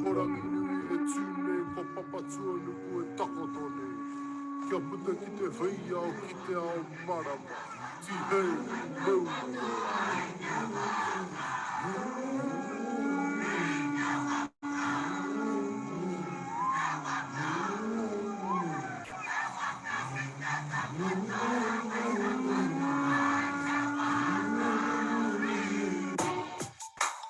Ko Ranginui e tū nei, ko Papatuanuku e takoto nei. Kia puta ki te heiao, ki te ao marama. Tihei, mauri ora!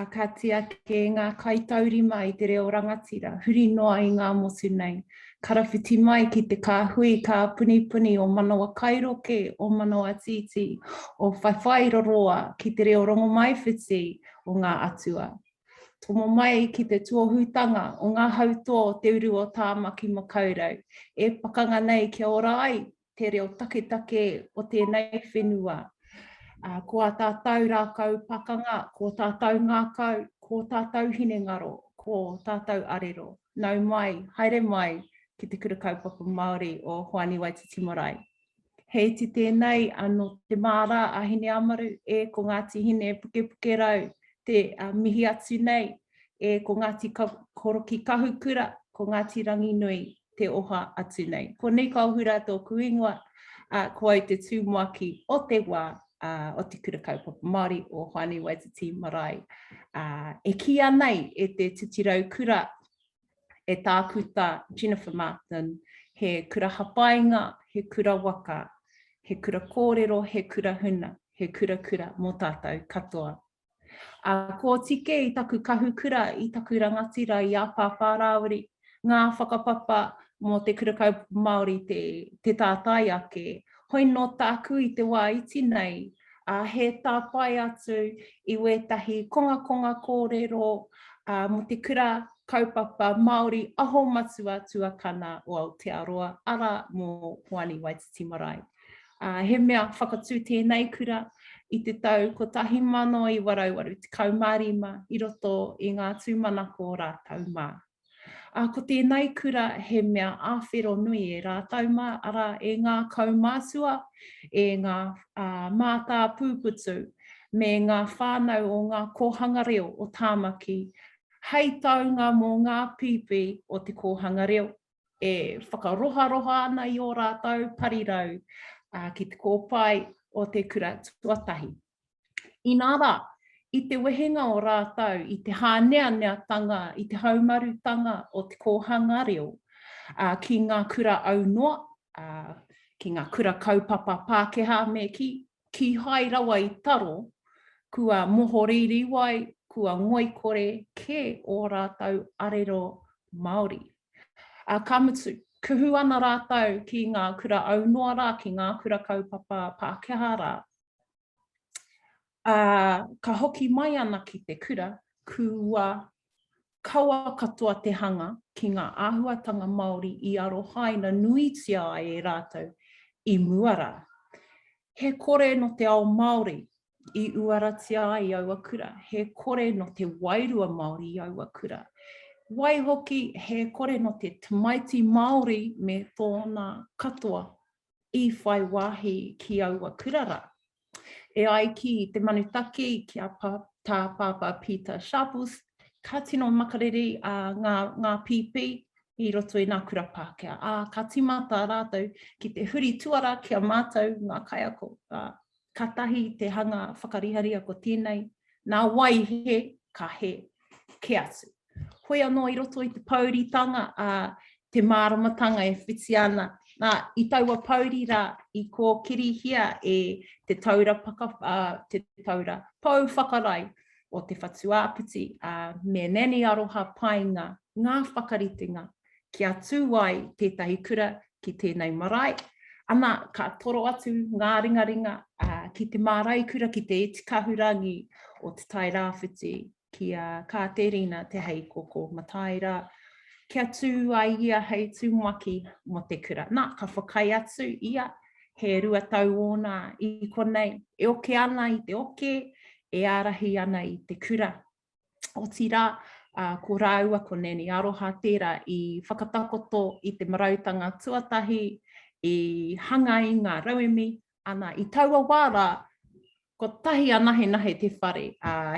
A ka tiake ngā kaitaurima i te reo rangatira, huri noa i ngā motu nei. Karawhiti mai ki te kāhui, kāpunipuni o Manawa Kairoke, o Manawa Tītī, o Whaiwhai Roroa ki te reo rongomaiwhiti o ngā atua. Tomo mai ki te tuohutanga o ngā hautō te uru o Tāmaki Makaurau, e pakanga nei kia ora ai te reo taketake o tēnei whenua. Ko ā tātou rākau pakanga, ko ō tātou ngākau, ko ō tātou hinengaro, ko ō tātou arero. Nau mai, haere mai ki te Kura Kaupapa Māori o Hoani Waititi Marae. He iti tēnei nō Te Māra a Hineāmaru, e ko Ngāti Hinepukepukerau te mihi atu nei, e ko Ngāti Korokikahukura, ko Ngāti Ranginui te oha atu nei. Ko Nīkaohura tōku ingoa, ko au te tūmaki o te wā, o te Kura Kaupapa Māori o Hoani Waititi Marae. E kīia nei e te titirau kura e Tākuta Jennifer Martin, he kura hapainga, he kura waka, he kura kōrero, he kura huna, he kura kura mō tātou katoa. Ā, kōtike i taku kahukura, i taku rangatira, i a Pāpā Rāwiri, ngā whakapapa mō te Kura Kaupapa Māori te, te tātai ake. Hoi nō tāku i te wā iti nei, ā, he tāpae atu i wētahi kongakonga kōrero mō te kura kaupapa Māori aho matua tuakana o Aotearoa, arā, mō Hoani Waititi Marae. Ā, he mea whakatū tēnei kura i te tau 1985 i roto i ngā tūmanako rātou mā. Ā, ko tēnei kura he mea āwhero nui e rātou mā, arā, e ngā kaumātua, e ngā mātāpūputu, me ngā whānau o ngā kōhanga reo o Tāmaki, hei taunga mō ngā pīpī o te kōhanga reo, e whakaroharoha ana i ō rātou parirau ki te kōpae o te kura tuatahi. Inā rā, i te wehenga o rātou i te hāneaneatanga, i te haumarutanga o te kōhanga reo ki ngā kura aunoa, ki ngā kura kaupapa Pākehā me kī, kīhai rawa i taro, kua mohorīriwai, kua ngoikore kē ō rātou arero Māori. Ka mutu, kuhu ana rātou ki ngā kura aunoa rā, ki ngā kura kaupapa Pākehā rā, Ā, ka hoki mai ana ki te kura, kua kawa katoa te hanga ki ngā āhuatanga Māori i arohaina nuitia ai e rātou i mua rā. He kore nō te ao Māori i uaratia ai aua kura, he kore nō te wairua Māori i aua kura. Waihoki, he kore nō te tamaiti Māori me tōna katoa i whai wāhi ki aua kura rā. E ai ki te manutaki, ki a Tā Pāpā Peter Sharples, ka tino makariri a ngā, ngā pīpī i roto i ngā kura Pākehā, ā, ka tīmata rātou ki te huri tuara ki a mātou ngā kaiako. katahi te hanga whakariharia ko tēnei, nā wai he, ka he, ke atu. Hoi anō i roto i te pouritanga a te māramatanga e whiti ana. Nā, i taua pouri rā, i kōkirihia e te taura, paka, uh, te taura pou whakarai o te whatu āpiti, a uh, me Nanny Aroha Painga, ngā whakaritenga kia tū ai tētahi kura ki tēnei marae, ana, ka toro atu ngā ringaringa ki te mārai kura ki te iti kahurangi o Te Tai Rāwhiti ki a Kāterina Te Heikoko Mataira kia tū ai ia hei tumuaki mō te kura. Nā, ka whakaae atu ia, he rua tau ōna i konei, e oke ana i te oke, e ārahi ana i te kura Otirā, ko rāua ko Nanny Aroha tērā i whakatakoto i te marautanga tuatahi i hanga i ngā rauemi, ana i taua wā rā, kotahi anahenahe te whare,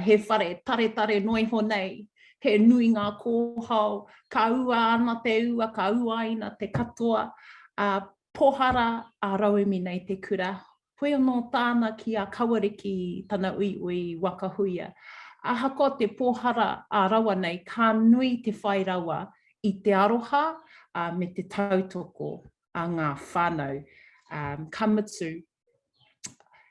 he whare taretare noa iho nei, he nui ngā kōhao, ka ua ana te ua, ka uaina te katoa, pohara ā rauemi nei te kura, Hoi anō tāna ki a Kawariki tana uiui waka huia. Ahakoa te pōhara ā rawa nei ka nui te whai rawa i te aroha me te tautoko a ngā whānau. Ka mutu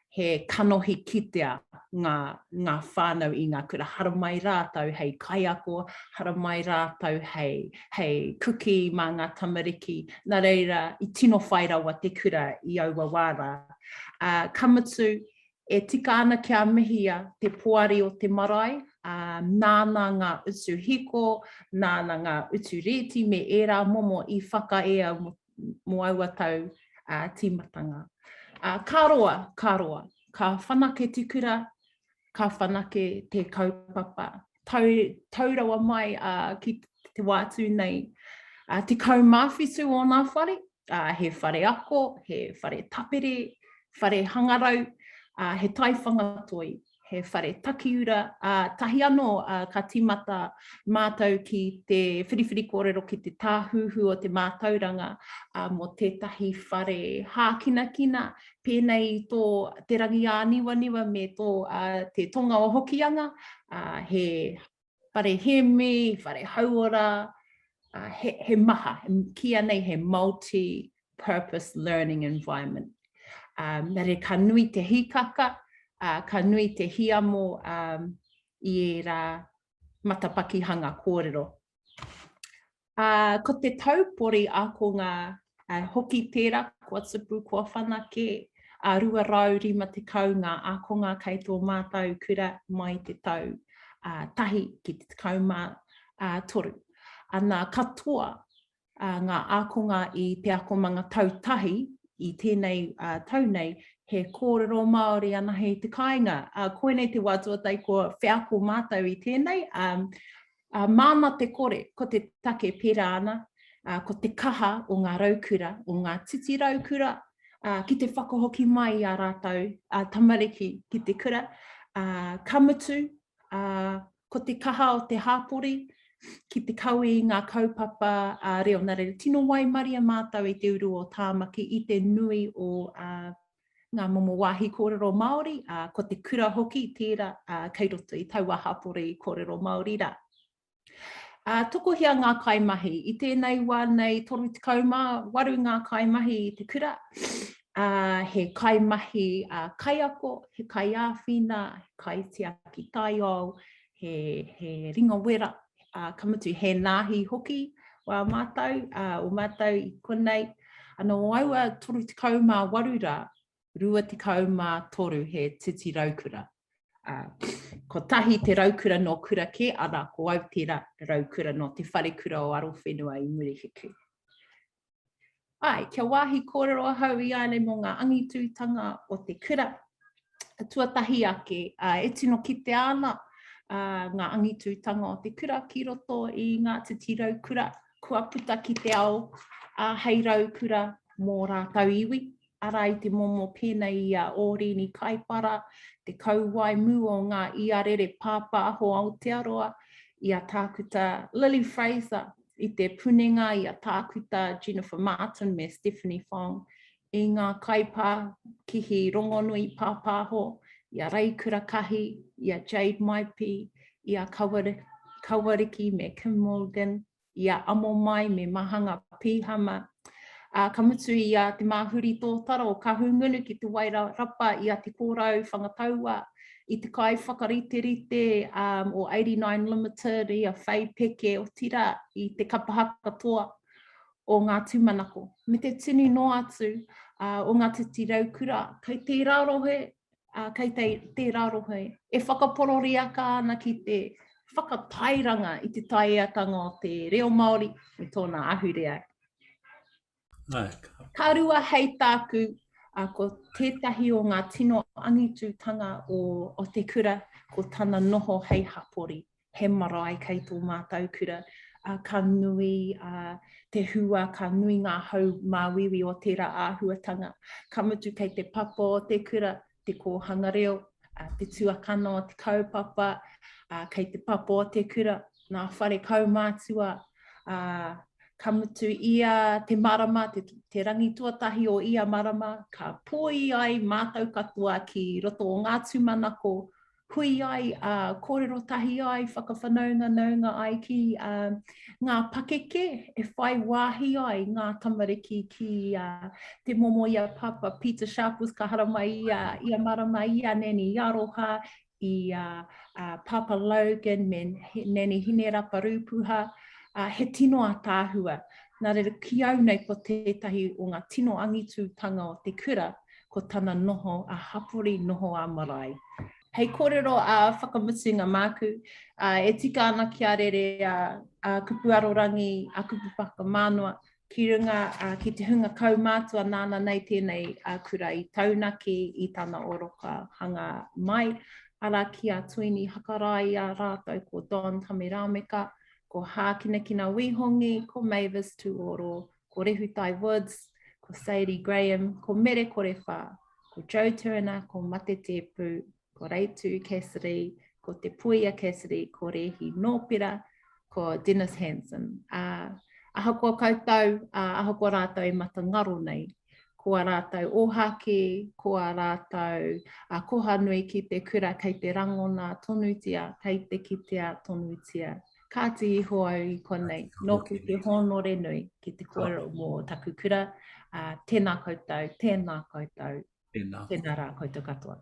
he kanohi kitea ngā whānau i ngā kura, haramai rātou hei kaiako, haramai rātou hei. hei kuki mā ngā tamariki, nā reira i tino whai rawa te kura i aua wā rā. Ā, ka mutu, e tika ana kia mihia te poari o te marae, ā, nāna ngā utu hiko, nāna ngā utu rēti me ērā momo i whakaea mō, mō aua tau, ā, tīmatanga. Ā, ka roa, ka roa, ka whanake te kura, ka whanake te kaupapa. Tau, tau rawa mai a, ki te wā tū nei, a, te kaumāwhitu o nā whare, a, he whare ako, he whare tapere, whare hangarau, a, he taiwhanga toi, he whare takiura, a, tahi anō a, ka tīmata mātou ki te whiriwhiri kōrero ki te tāhuhu o te mātauranga a, mō tētahi whare hākinakina, pēnei i tō Te Rangiāniwaniwa me tō Te Tonga o Hokianga, he whare hēmi, whare hauora, he, he maha, ki anei he multi-purpose learning environment. Um, mere ka nui te hikaka, uh, ka nui te hiamo um, i ērā matapakihanga kōrero Uh, ko te taupori akonga uh, hoki tērā kua tupu, kua whanake a uh, 250 ngā akonga kei tō mātou kura mai te tau uh, tahi ki te tekau mā uh, toru. Ana katoa ngā ākonga i te akomanga tau tahi i tēnei tau nei, he kōrero Māori anahe i te kāinga. Koinei te wā tuatahi kua wheako mātou i tēnei, māna te kore, ko te take pērā ana, ko te kaha o ngā raukura, o ngā titi raukura, ki te whakahoki mai i ā rātou tamariki ki te kura, ka mutu, ā, ko te kaha o te hāpori ki te kawe i ngā kaupapa reo nā reira. Tino waimaria mātou i te uru o Tāmaki i te nui o ngā momo wāhi kōrero Māori, ā, ko te kura hoki tērā kei roto i taua hāpori kōrero Māori rā. Ā, tokohia ngā kaimahi. I tēnei wā nei, 38 ngā kaimahi i te kura, ā, he kaimahi ā, kaiako, he kaiāwhina, he kaitiaki taiao, he, he ringawera, ā, ka mutu he nāhi hoki wā mātou, ā, o mātou i konei. Anō aua 38 rā, 23 he titi raukura. Ā, kotahi te raukura nō kura kē, arā, ko au tērā raukura nō te wharekura o Arowhenua i Murihiku. Āe, kia wāhi kōrero ahau i a nei mō ngā angitūtanga o te kura, tuatahi ake, ā, e tino kitea ana ngā angitūtanga o te kura ki roto i ngā titi raukura kua puta ki te ao hei raukura mō rātou iwi, arā i te momo pēnei i a Ōrini Kaipara, te kauwae mū o ngā iarere pāpāho Aotearoa, i a Tākuta Lily Fraser, i te punenga i a Tākuta Jennifer Martin me Stephanie Fong, i ngā kaipākihi rongonui pāpāho, i a Ray Kurakahi, i a Jade Maipi, i a Kawariki me Kim Morgan, i a Amomai me Mahanga Pihama, ā, ka mutu i a Te Māhuri Tōtaro, ka hūngunu ki Te Wairarapa i a Te Kōrau Whangataua, i te kaiwhakariterite um, o 89 Limited, i a Whei Peke, otirā, i te kapa hakatoa o ngā tūmanako. Me te tunu noa atu uh, o ngā titi raukura, kei tērā rohe ā, kei te, tērā rohe, e whakapororiaka ana ki te whakatairanga i te taieatanga o te reo Māori me tōna ahurea. Nā, ka. Ka rua hei tāku, ā, ko tētahi o ngā tino angitutanga o, o te kura, ko tana noho hei hapori. he marae kei tō mātou kura, ā, ka nui ā te hua, ka nui ngā hau māuiui o tērā āhuatanga. Ka mutu kei te papa o te kura, te kōhanga reo, ā, te tuakana o te kaupapa, ā, kei te papa o te kura, ngā whare kaumātua, ā, ka mutu ia te marama, te, te rangi tuatahi o ia marama, ka pōi ai mātou katoa ki roto o ngā tūmanako hui ai, ā, kōrero tahi ai, whakawhanaunganaunga ai ki ngā pakeke e whai wāhi ai ngā tamariki ki te momo i a Pāpā Peter Sharples, ka haramai ia, ia marama i a Nanny Aroha, i a Pāpā Logan me Nanny Hinerapa Rūpuha, he tino ataahua. Nā reira, ki au nei ko tētahi o ngā tino angitūtanga o te kura, ko tana noho ā-hapori, noho ā-marae. Hei kōrero ā-whakamutunga māku, e tika ana kia rere a Kupu Arorangi, a Kupu Whakamānoa ki runga ki te hunga kaumātua nāna nei tēnei kura i taunaki i tana oroka hanga mai, arā ki a Tuini Hakaraia rātou ko Don Tamerāmeka, ko Hākinakina Wīhongi, ko Mavis Tūoro, ko Rehutai Woods, ko Sadie Graham, ko Mere Korewha, ko Joe Turner, ko Mate Tēpu, ko Reitu Cassidy, ko Te Puia Cassidy, ko Rehi Nōpera, ko Dennis Hansen. Uh, ahakoa koutou, uh, ahakoa rātou e mata ngaro nei, ko a rātou ōhāke, ko a rātou a koha nui ki te kura kei te rangona tonutia, kei te kitea tonutia Kāti iho au i konei, nōki te hōnore nui ki te kōrero mō taku kura, tēnā koutou, tēnā koutou, tēnā rā koutou katoa.